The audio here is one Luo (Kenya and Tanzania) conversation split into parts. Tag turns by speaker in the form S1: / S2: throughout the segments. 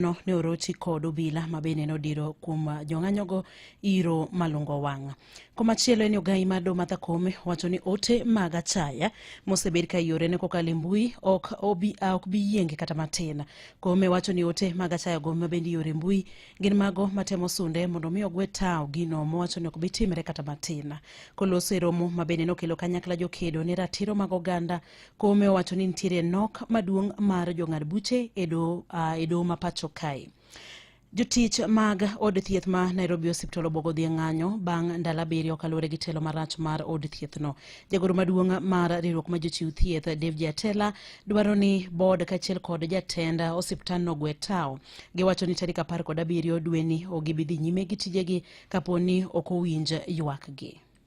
S1: no ne orochi kod obila ma bende nodiro kuom uh, jong'anyogo iro malungo wang'. Komachielo en ogai mar Domatha Kome wacho ni ote mag achaya mosebed ka yore ne kokalo e mbui ok obi, uh, ok bi yienge kata matin. Kome wacho ni ote mag achaya go ma bende yore mbui gin mago matemo sunde mondo mi ogwe tawo gino mowacho ni ok bi timre kata matin. Koloso e romo ma bende nokelo kanyakla jokedo ne ratiro mag oganda Kome owacho ni nitiere nok maduong' mar jong'ad buche e doho uh, ma pacho kae. Jotich mag od thieth ma Nairobi Hospital obogo dhi e ng'anyo bang' ndalo abiriyo kaluwore gi telo marach mar od thiethno. Jagoro maduong' mar riwruok ma jochiw thieth David Atela dwaro ni bod kaachiel kod jatend osiptandno gwe tawo. Giwacho ni tarik apar kod abiriyo dweni ok gibi dhi nyime gi tijegi kapo ni ok owinj ywakgi.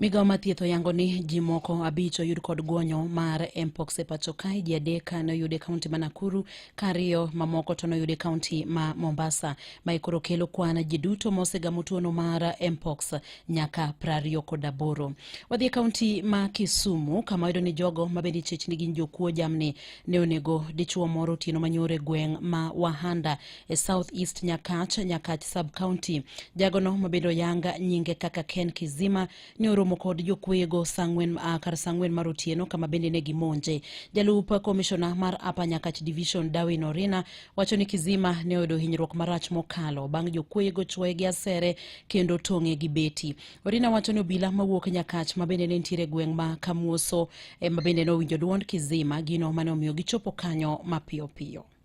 S2: Migawo
S1: mathieth oyango ni ji moko abich oyud kod guonyo mar mpox e pacho kae ji adek ne oyude kaunti ma Nakuru ka ariyo mamoko to noyude kaunti ma Mombasa ma ikoro kelo kwan ji duto mosegamo tuono mar mpox nyaka prariyo kod aboro. Wadhi e kaunti ma Kisumu kama wayudo ni jogo ma bende ichich ni gin jokuo jamni ne onego dichuo moro otieno manyoro e gweng' ma Wahanda e South East Nyakach, Nyakach Sub County. Jagono mabedo yanga nyinge kaka Ken Kizima ne oromo kod jokweyego sang'wen uh, kar sang'wen mar otieno kama bende ne gimonje. Jalup komishona mar Upper Nyakach Division Darwin Orina wacho ni Kizima ne oyudo hinyruok marach mokalo bang' jokweyego chwoye gi asere kendo tong'e gi beti. Orina wacho ni obila mawuok Nyakach ma bende ne nitiere gweng' ma Kamuoso eh, ma bende ne owinjo dwond Kizima gino mane omiyo gichopo kanyo mapiyo piyo.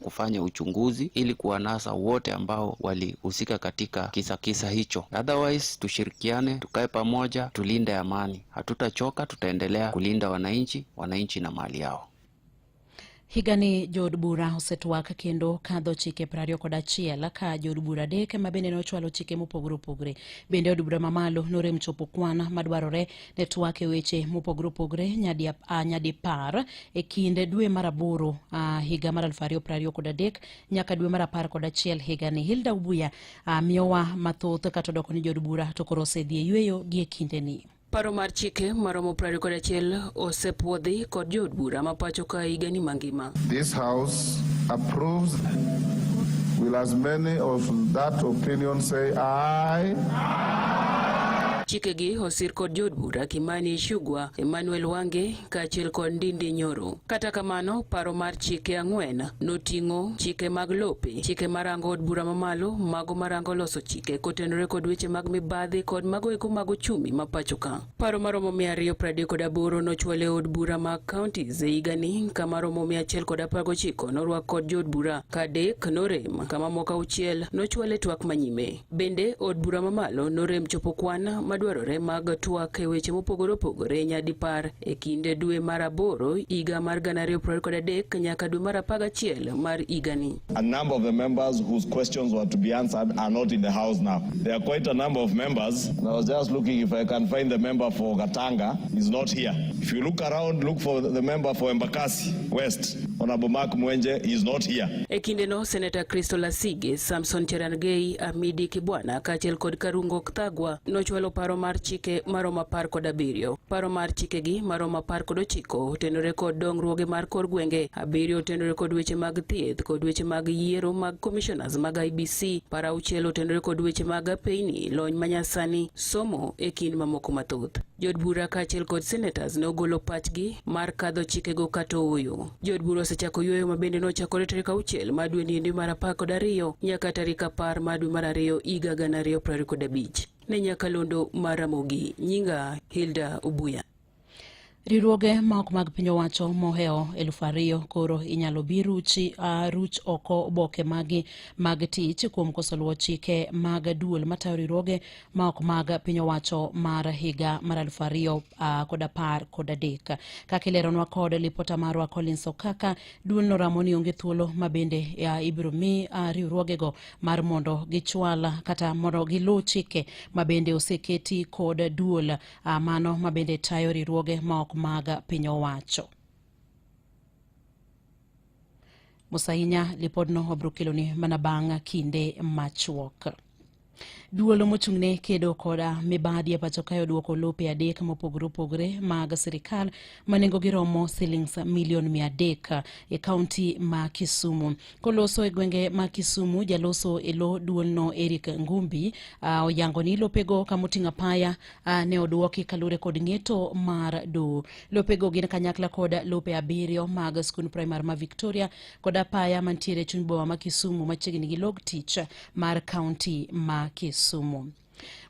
S3: kufanya uchunguzi ili kuwanasa wote ambao walihusika katika kisa kisa hicho. Otherwise, tushirikiane, tukae pamoja, tulinde amani. Hatutachoka, tutaendelea kulinda wananchi, wananchi na mali yao.
S1: Higani jood bura osetwak kendo kadho chike piero ariyo kod achiel ka jood bura adek ma bende ne ochwalo chike mopogore opogore. Bende od bura mamalo norem chopo kwan madwarore ne twak e weche mopogore opogore nyadi uh, nyadi par e kinde dwe mar aboro uh, higa mar aluf ariyo prariyo kod adek nyaka dwe mar apar kod achiel higa ni Hilda Ubuya uh, miyowa mathoth kata odoko ni jod bura to koro osedhi e yueyo gi e kinde ni. Paro mar chike
S4: maromo prariyo kod achiel osepuodhi kod jood bura ma pacho ka higa ni mangima. This house
S5: approves will as many of that opinion say aye. Chikegi
S4: sir kod jood bura Kimani Ichung'wa, Emmanuel Wange kaachiel kod Ndindi Nyoro. Kata kamano, paro mar chike ang'wen noting'o chike mag lope, chike marango od bura mamalo, mago marango loso chike kotenore kod weche mag mibadhi kod mago eko mag ochumi ma pacho ka. Paro maromo mia ariyo pradek kod aboro nochwal e od bura mag counties e higani ka maromo mia achiel kod apar gochiko norwak kod jood bura kadek norem kama moko auchiel nochwal e twak manyime. Bende, od bura mamalo norem chopo kwan madwarore mag twak e weche mopogore opogore nyadipar e kind dwe mar aboro higa mar gana ariyo piero kod adek nyaka dwe mar apar gachiel mar higani. A number of the
S6: members whose questions were to be answered are not in the house now. There are quite a number of members. I was just looking if I can find the member for Katanga. He's not here. If you look around, look for the member for Embakasi West. Honorable Mark Mwenje is not here. E kindeno, Senator
S4: Crystal Asige, Samson Cherana Sergei Amidi Kibwana kaachiel kod Karungo Kthagwa nochwalo paro mar chike maromo apar kod abiriyo. Paro mar chikegi maromo apar kod ochiko otenore kod dongruoge mar kor gwenge, abiriyo otenore kod weche mag thieth kod weche mag yiero mag commissioners mag IBC, paro auchiel otenore kod weche mag apeyni, lony manyasani, somo e kind mamoko mathoth. Jod bura kaachiel kod senators ne ogolo pachgi mar kadho chikego kata ooyo. Jood bura osechako yueyo ma bende nochakore tarik auchiel ma dwe niendi mar apar kod ariyo nyaka tarik apar ma dwe mar ariyo higa gana ariyo piero ariyo kod abich. Ne Nyakalondo mar Ramogi, nyinga Hilda Ubuya. Riwruoge
S1: ma ok mag piny owacho mohewo elufu ariyo koro inyalo bi ruchi uh, ruch oko oboke magi mag tich kuom koso luwo chike mag duol matayo riwruoge ma ok mag piny owacho mar higa mar aluf ariyo uh, kod apar kod adek kaka ileronwa kod lipota marwa Collins Okaka duol noramo ni onge thuolo ma bende uh, ibiro mi uh, riwruogego mar mondo gichwal kata mondo giluw chike ma bende oseketi kod duol uh, mano ma bende tayo riwruoge ma ok mag piny owacho Musahinya lipodno obiro keloni mana bang' kinde machuok. Duol mochung'ne kedo koda mibadhi e pacho kae odwoko lope adek mopogore opogore mag sirikal ma nengogi romo silings milion mia adek e kaunti ma Kisumu. Koloso e gwenge ma Kisumu, jaloso e lo duolno Eric Ngumbi uh, oyango ni lopego kamoting'o apaya Uh, ne odwoki kalure kod ng'eto mar do lopego gin kanyakla kod lope abiriyo mag skund primar ma victoria kod apaya mantiere chuny bowa ma kisumu machiegni gi log tich mar kaunti ma kisumu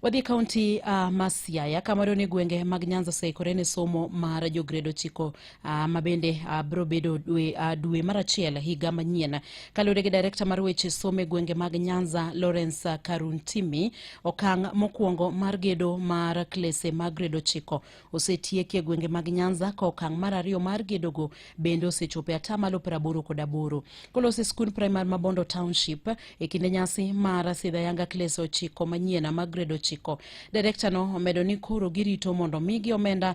S1: Wadhi kaunti uh, ma Siaya kama done gwenge mag Nyanza oseikore ne somo mar jograde ochiko Uh, ma bende uh, ah, biro bedo dwe, uh, dwe mar achiel higa manyien kaluwore gi direkta mar weche somo e gwenge mag nyanza lawrence uh, karuntimi okang' mokwongo mar gedo mar klese mag grade ochiko osetieki e gwenge mag nyanza ka okang' mar ariyo mar gedogo bende osechopo e atamalo piero aboro kod aboro kolose skund primar ma bondo township e kinde nyasi mar sidha yanga klese ochiko manyien mag grade ochiko direkta no omedo ni koro girito mondo migi omenda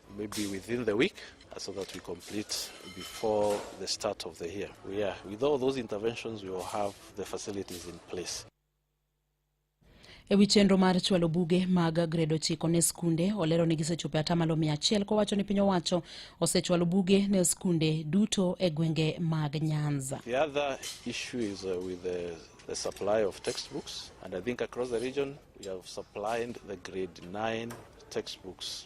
S7: Maybe within the week uh, so that we complete before the start of the year. We are, with all those interventions, we will have the facilities in place.
S1: E wi chenro mar chwalo buge mag grade ochiko ne skunde olero ni gisechopo atamalo mia achiel kowacho ni piny owacho osechwalo buge ne skunde duto e gwenge mag Nyanza. The other
S7: issue is uh, with the, the supply of textbooks and I think across the region we have supplied the grade 9 textbooks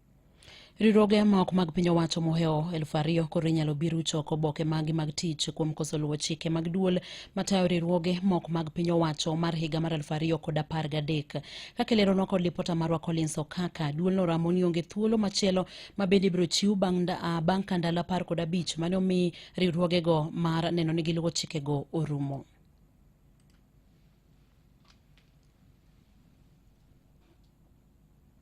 S7: Riwruoge
S1: ma ok mag piny owacho mohewo elfu ariyo koro inyalo bi rucho oko oboke maggi mag tich kuom koso luwo chike mag duol matayo riwruoge ma ok mag piny owacho mar higa mar elfu ariyo kod apar gadek. Kaka ileronwa kod lipota marwa Collins Okaka, duolno ramo ni onge thuolo machielo ma bende ibiro chiw bang' ah, bang' ka ndalo apar kod abich mane omi riwruogego mar neno ni giluwo chikego orumo.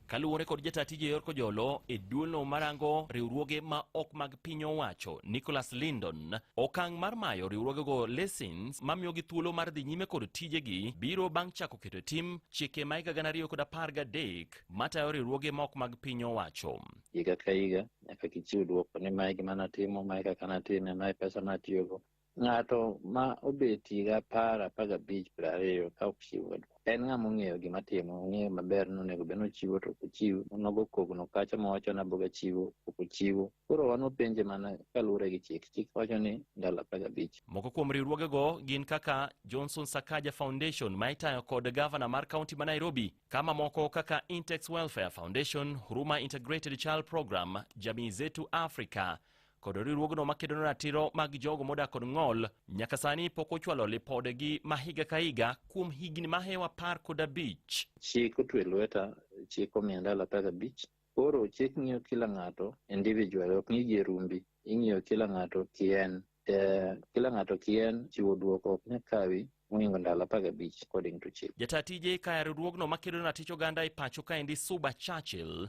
S8: Kaluwore kod jata tije yor kojolo e duolno marango riwruoge ma ok mag piny owacho Nicholas Lindon, okang' mar mayo riwruogego lessons mamiyogi thuolo mar dhi nyime kod tijegi biro bang' chako keto e tim chike ma higa gana ariyo kod apar gadek matayo riwruoge ma ok mag piny owacho. higa ka higa
S9: nyaka gichiw dwoko ni mae gima natimo, mae kaka natime, mae pesa natiyogo. Ng'ato ma obet higa apar apar gabich piero ariyo ka ok chiw wadwa en ng'ama ong'eyo gima timo ong'eyo maber ni onego bed nochiwo to ok ochiw onogo kogno kacha mawacho ni aboga chiwo ok ochiwo koro wan wapenje mana kaluwore gi chik chik wacho ni ndalo apar gabich Moko kuom riwruogego
S8: gin kaka Johnson Sakaja Foundation ma itayo kod gavana mar kaunti ma Nairobi, ka mamoko kaka Intex Welfare Foundation, Huruma Integrated Child Program, Jamii Zetu Africa, kod riwruogno makedo ne ratiro mag jogo modak kod ng'ol nyaka sani pok ochwalo lipodegi ma higa ka higa kuom higni ma hewa apar kod abich. Chik otwe
S9: lweta, chik omiya ndalo apar gabich. Koro chik ng'iyo kila ng'ato individual, ok ng'i gi e rumbi, ing'iyo kila ng'ato kien. Eh, kila ng'ato kien chiwo dwoko ok nya kawi moingo ndalo apar gabich according to chik. Jataa tije kaya riwruogno
S8: makedo ne ratich oganda e pacho kaendi Suba Churchill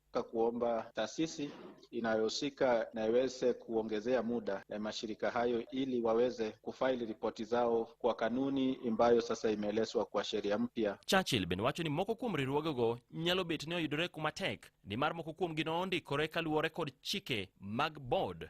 S10: ka kuomba taasisi inayohusika na iweze kuongezea muda eh, mashirika hayo ili waweze kufaili ripoti zao kwa kanuni ambayo sasa imeelezwa kwa sheria mpya. Churchill bende wacho ni
S8: moko kuom riwruogego nyalo bet ni oyudore kuma tek nimar moko kuomgi nondikore kaluwore kod chike mag board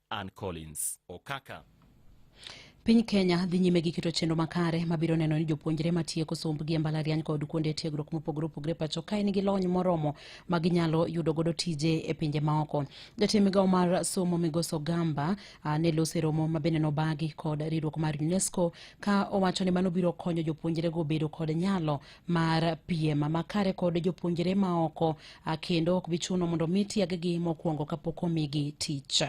S8: Ann Collins Okaka.
S1: Piny Kenya dhi nyime gi keto chenro makare mabiro neno ni jopuonjre matieko sombgi e mbalariany kod kuonde tiegruok mopogore opogore pacho ka en gi lony moromo ma ginyalo yudo godo tije e pinje maoko. Jatend migawo mar somo Migoso Gamba ah, ne lose romo ma bende nobagi kod riwruok mar UNESCO ka owacho ni mano biro konyo jopuonjrego bedo kod nyalo mar piem makare kod jopuonjre maoko kendo ok bichuno mondo mi tieggi mokwongo kapok omigi tich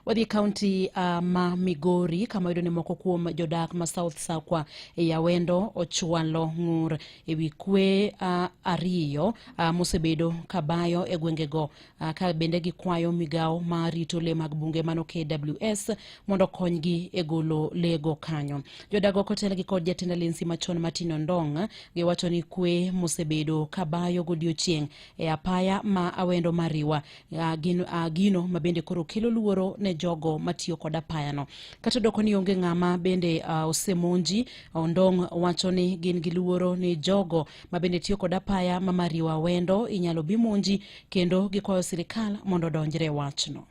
S1: wadhi kaunti uh, ah, ma migori kama yudo ni moko kuom jodak ma south sakwa e yawendo ochwalo ng'ur ewi kwe uh, ariyo uh, mosebedo kabayo e gwengego Ah, ka bende gikwayo migawo ma rito le mag bunge mano KWS mondo konygi e golo lego kanyo. Jodago kotelgi kod jatend alensi machon Martin Ondong giwacho ni kwe mosebedo kabayo godiochieng' e apaya ma Awendo Mariwa ah, gino, ah, gino ma bende koro kelo luoro ne jogo matiyo kod apayano. Kata doko ni onge ng'ama bende uh, osemonji, Ondong wacho ni gin gi luoro ni jogo ma bende tiyo kod apaya ma mariwa wendo inyalo bi monji kendo gikwayo sirikal mondo odonjre wachno.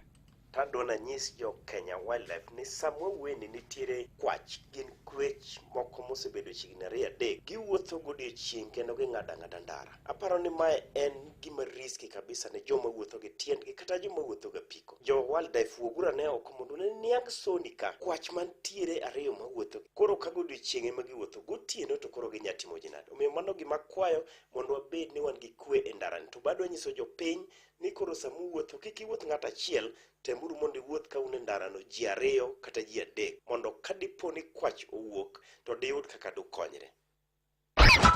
S1: Tadwa
S11: nanyis jo Kenya Wildlife ni sama wawueni nitiere kwach gin kwech moko mosebedo chiegni ariyo adek giwuotho godiechieng' kendo ging'ado ang'ada ndara. Aparo ni mae en gima riski kabisa ne joma wuotho gi tiendgi kata joma wuotho gi apiko. Jo wildlife wuoguru ane oko mondo ne niang soni ka. Kwach mantiere ariyo mawuotho gi. Koro ka godiochieng' ema giwuotho, gotieno to koro ginya timo ji nade? Omiyo mano gima akwayo mondo wabed ni wan gi kwe e ndarani. To bado anyiso jopiny ni koro sama uwuotho kik iwuoth ng'ato achiel, temuru mondo iwuoth ka un e ndarano ji ariyo kata ji adek mondo ka dipo ni kwach owuok to diyud kaka dukonyre.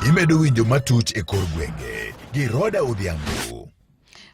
S12: Imedo winjo matut e kor gwenge gi Roda Odhiambo.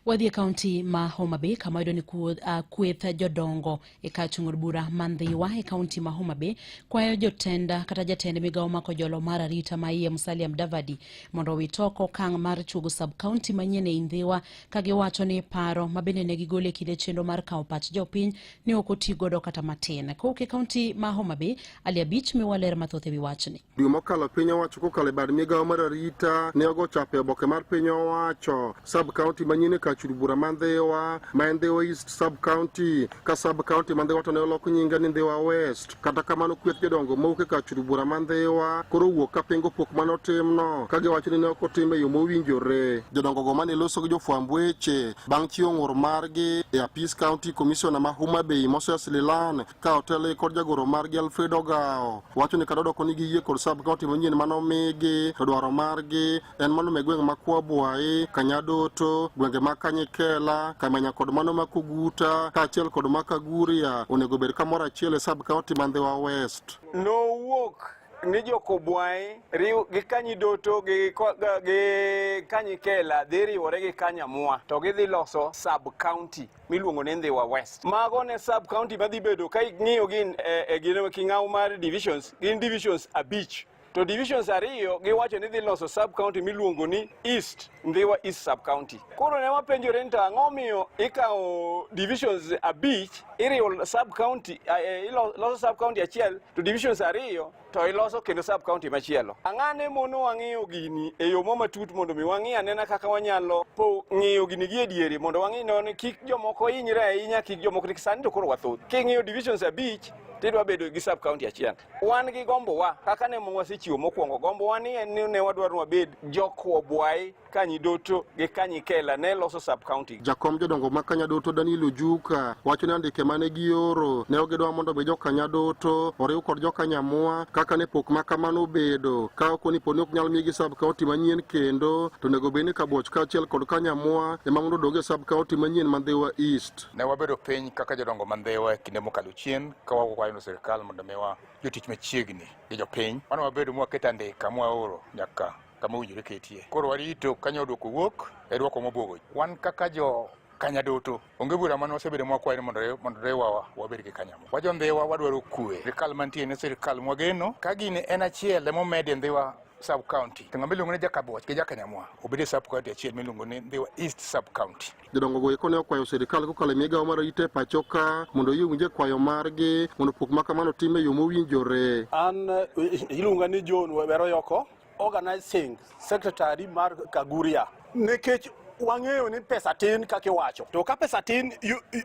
S12: Wadhi e
S1: kaunti ma Homa Bay kama yudo ni uh, kweth jodongo e kar chung' od bura ma Ndhiwa e kaunti ma Homa Bay kwayo jotenda uh, kata jatend migawo ma kojolo mar arita ma iye Musalia Mudavadi mondo owit oko okang' mar chugo sub kaunti manyien e Ndhiwa ka giwacho ni paro ma bende ne gigolo e kinde chenro mar kawo pach jopiny ne ok oti godo kata matin. Kowuok e kaunti ma Homa Bay, Ali Abich miwa ler mathoth e wi wachni. Dwe mokalo piny
S13: owacho kokalo e bad migawo mar arita ne ogo chapa e oboke mar piny owacho sub county manyien e kachud bura ma Ndhiwa ma en Ndhiwa East sub county ka sub county ma Ndhiwa to ne olok nyinge ni Ndhiwa West. Kata kamano kweth jodongo mowuok e kachud bura ma Ndhiwa koro wuok ka pingo pok mane otimno ka giwacho ni ne ok otim e yo mowinjore. Jodongo go mane loso gi jofwamb weche bang' chiwo ng'ur margi e apis county commissioner ma Homa Bay Moses Lilan ka otele kod jagoro margi Alfred Ogawo wacho ni kata odoko ni giyie kod sub kaunti manyien mane omigi to dwaro margi en mano me gwenge ma Kwabwayi, Kanyadoto, gwenge ma Kanyikela, Kamenya kod mano ma Kuguta kaachiel kod ma Kaguria onego obed kamoro achiel e sub kaunti ma Ndhiwa West. Nowuok
S14: ni jokobwayi riw gi kanyidoto gi, ko- ga- gi kanyikela dhi riwore gi kanyamua to gidhi loso sub county miluongo ni Ndhiwa West. Mago ne sub county madhi bedo ka ing'iyo gin e, e gin king'aw mar divisions, gin divisions abich to divisions ariyo giwacho ni dhi loso sub county miluongo ni East Ndhiwa East sub county. Koro ne wapenjore ni to ang'o omiyo ikawo divisions abich iriwo sub county, eh, eh, iloso sub county achiel to divisions ariyo to iloso kendo sub county machielo. Ang'ane mono wang'iyo gini e yo matut mondo mi wang'i anena kaka wanyalo po ng'iyo gini gi edieri mondo wang'i non kik jomoko hinyre ahinya kik jomoko nikech sani to koro wathoth. King'iyo divisions abich tidwa bedo gi sub county achiel. Wan gi gombo wa kaka ne wasechiwo mokwongo gombo wa ni en ni ne wadwaro wabed jokwobwai Kanyidoto gi Kanyikela ne loso sub county. Jakom jodongo ma
S13: Kanyadoto Daniel Ojuka wacho ni andike mane gioro ne ogidwa mondo mi jokanyadoto oriw kod jokanyamua kaka ne pok ma kamano obedo ka ok onipo ni ok nyal migi sub county manyien kendo to onego bed ni Kabuoch kaachiel kod Kanyamua ema mondo odog e sub county manyien ma Ndhiwa East. Ne wabedo piny
S15: kaka jodongo ma Ndhiwa e kinde mokalo chien ka wakwayo sirkal mondo miwa jotich machiegni gi jopiny. Mano wabedo mwaketo andika mwaoro nyaka kama owinjore ketie. Koro warito ka nyawo dwoko wuok e dwoko mobwogo. Wan kaka jo kanya duto onge bura mane wasebedo mwakwayo ni mondo mondo riwawa wabed gi kanyamo wajo ndhiwa wadwaro kwe sirikal mantie ne sirikal mwageno ka gini en achiel emomed e ndhiwa sub county to ng'ama iluongo ni jakaboch gi jakanyamwa obed e sub county achiel miluongo ni ndhiwa east sub county jodongo go eko ne okwayo
S13: sirikal kokalo e migawo mar rite pacho ka mondo oyie winje kwayo margi mondo pok ma kamano time e yo mowinjore an
S16: eh, iluonga ni john weroyoko Organizing Secretary mar Kaguria nikech wang'eyo ni pesa tin kaka iwacho to ka pesa tin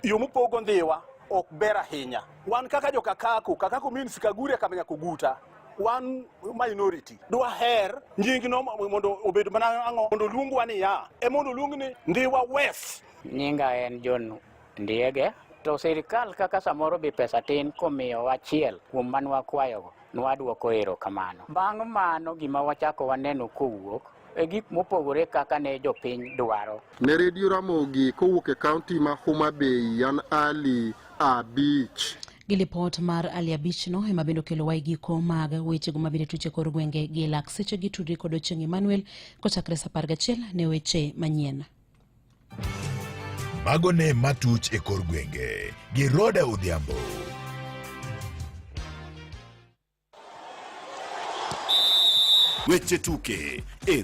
S16: yo mupogo ndhiwa ok ber ahinya wan kaka jokakaku kakaku means Kaguria kamenya kuguta wan minority dwaher nyingno mondo obed mana ang'o mondo luongwa niya e mondo luong ni Ndhiwa West nyinga en
S17: John Ndiege to sirkal kaka samoro bi pesa tin komiyo wachiel kuom man wakwayogo nwadwoko ero kamano. Bang' mano gima wachako waneno kowuok e gik mopogore kaka ne jopiny dwaro. Ne redio Ramogi
S13: kowuok e kaunti ma Homa Bay, yan Ali Abich. Gi lipot
S1: mar Ali Abich no ema bende okelo wa giko mag wechego mabende tuche kor gwenge gi lak seche gi tudri kod Ochieng' Emmanuel kochakre sa apar gachiel ne weche manyien.
S12: Mago ne matuch e kor gwenge gi Roda Odhiambo.
S18: Weche tuke e